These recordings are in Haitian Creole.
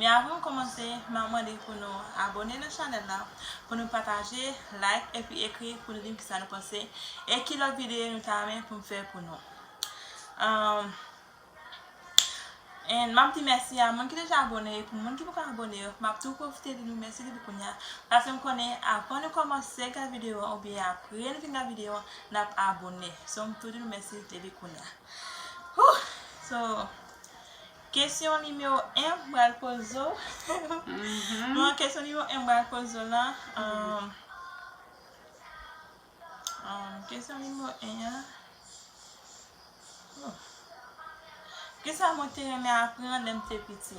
Men avan m komanse map mande pou nou abone nan chanel la pou nou pataje like epi ekri pou nou dim kisa nou panse e ki lot video nou ta renmen pou m fè pou nou and map di mèsi a moun ki deja abone yo pou moun ki poko abone yo map tou profite di nou mèsi depi kounya paske m konnen avan nou komanse gad video an oubyen apre nou fin gad video an nap abone so m tou di nou mèsi depi kounya hoo so. Kesyon nimewo 1 m pral poze w, bon kesyon nimewo 1 m pral poze w lan, kesyon nimewo 1 an, oh, kisa mwen te renmen aprann lè m te piti?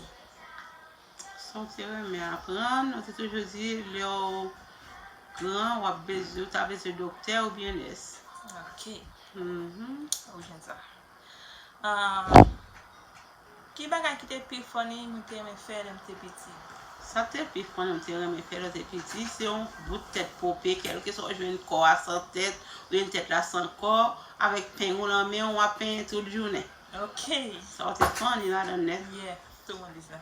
Sa w te renmen aprann, ou te toujou di lè w gran w ap bezwen, ou ta bezwen doktè oubyen nès. Ok, ou gen sa. Ahh ki bagay ki te pi funny nou te renmen fè lè nou te piti? Sa k te pi funny nou te renmen fè lè nou te piti se yon bout tèt pope kèlkeswa ou jwenn kò a san tèt oubyen tèt la san kò avèk peng ou nan men w wap penyen tout jounen. Ok. Sa w te funny ladan l nèt. Yeah, tout moun di sa.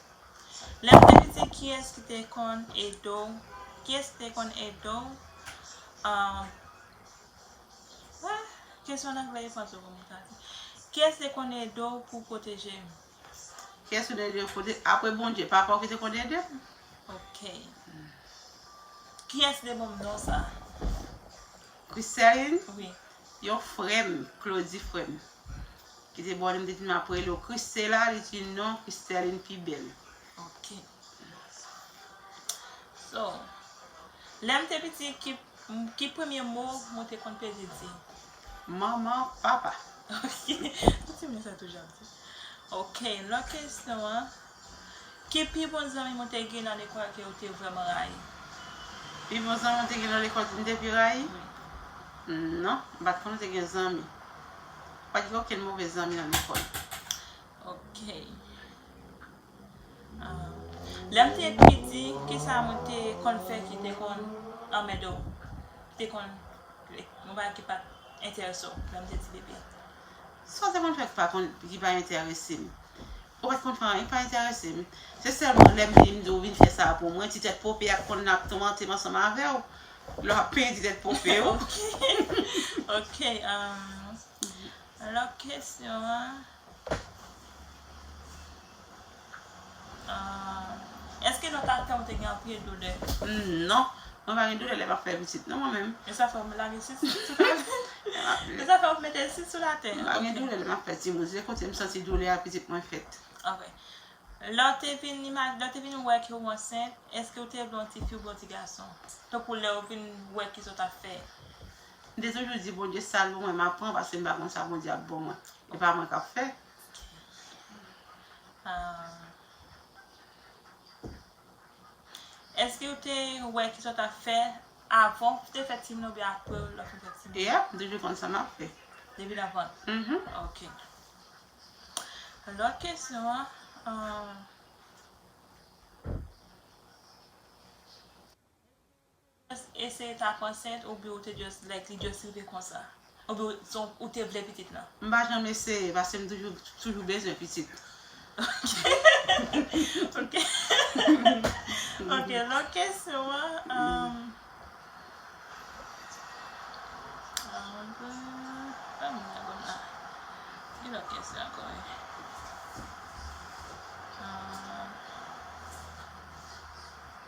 Lèw te piti kiyès ki te konn edew kiyès te konn edew pou pwoteje ou. Kiyès ou te edew pwoteje apre Bondye papaw ki te konn edew. Ok kiyès te banm non sa. Christelle yon frèm Claudy frèm. Kite bone m te di map rele w Christella li t di non Christeline pi bèl. Ok So lè m te piti ki premye mo mwen te konn peze di? Manman, papa. Ok, ou ti moun sa toujou ap di. Ok, lòt kesyon an. Ki pi bon zanmi mwen te gen nan lekòl ke ou te vrèman rayi? Pi bon zanmi mwen te gen nan lekòl ke m te pi rayi? Wi. Non, m pa t konn ou te gen zanmi. M pa t gen okenn move zanmi nan lekòl. Ok. Lè m te piti, ki sa mwen te konn fè ki te konn anmède w? Ki te konn, yon bagay ki pa t enterese w lè m te ti bebe? Sa w te konn fè ki pa enterese m? Ou pa t konn fè anyen k pa enterese m. Se sèlman lè m vini m di w vin fè sa a pou mwen, ti tèt pope a k konn ap toumante m ansanm avè w. Lè w ap penyen ti tèt pope w. Ok, lòt kesyon an. Eske nan tan tan ou te gen anpil doulè? Humm non, mwen pa gen doulè lè map fè pitit non mwen menm. E sa fè ou lage sit sou tabl? E sa fè ou mete sit sou la tè? Mwen pa gen doulè lè map fè timoun, se kote m santi doulè a pitit mwen fèt. Ok. Lè w te vin imaj, lè w te vin wè ke ou ansent, eske ou te vle yon tifi oubyen yon ti gason? Tankou lè ou vin wè kisa ou tap fè. M te toujou di Bondye sa l pou mwen map pran paske m pa konn sa Bondye ap ban mwen. E pa mwen kap fè. Ah. Eske ou te wè kisa w ta fè avan ou te fè timoun oubyen apre lè w fin fè timoun? Yep, m toujou konn sa map fè. Depi nan vant? Mhm. Ok. Lòt kesyon an, ahh. Just eseye tap ansent ou byen ou te just like li just rive konsa. Ou byen son ou te vle pitit lan. M pa janm eseye paske m toujou toujou bezwen pitit. Ok ok lòt kesyon an.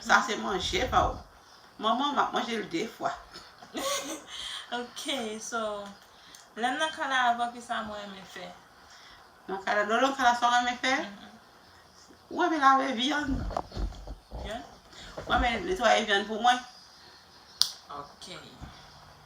Sa se manje pa ou. Manman map manje l de fwa. Ok so lèm nan kala avèw kisa mwen renmen fè. Nan kala lèw nan kala sa ou renmen fè. Ou renmen lave vyann. Vyann. Ou renmen netwaye vyann pou mwen. Ok.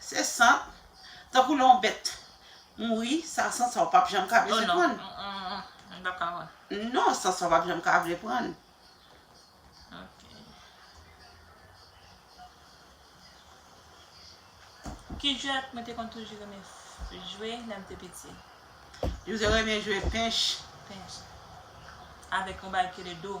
Se sant, tankou lè yon bèt mouri, sa sant sa ou pap janm ka vle prann. Non, sant sa ou pap janm ka vle prann. Ki jwè mwen te konn toujou renmen jwe lè m te piti? Yo te renmen jwe pench. Pench. Avèk yon bagay ki rele do.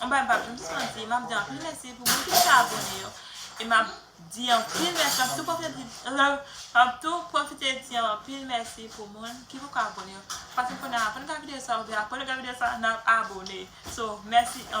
Yon bagay m pap janm sispann di, map di anpil mèsi pou moun ki deja abone yo e map di anpil mèsi, map tou pwofite di map tou pwofite di anpil mèsi pou moun ki poko abone yo paske kounye a avan nou gad videyo sa oubyen aprè nou gad videyo sa nap abone so mèsi anpil.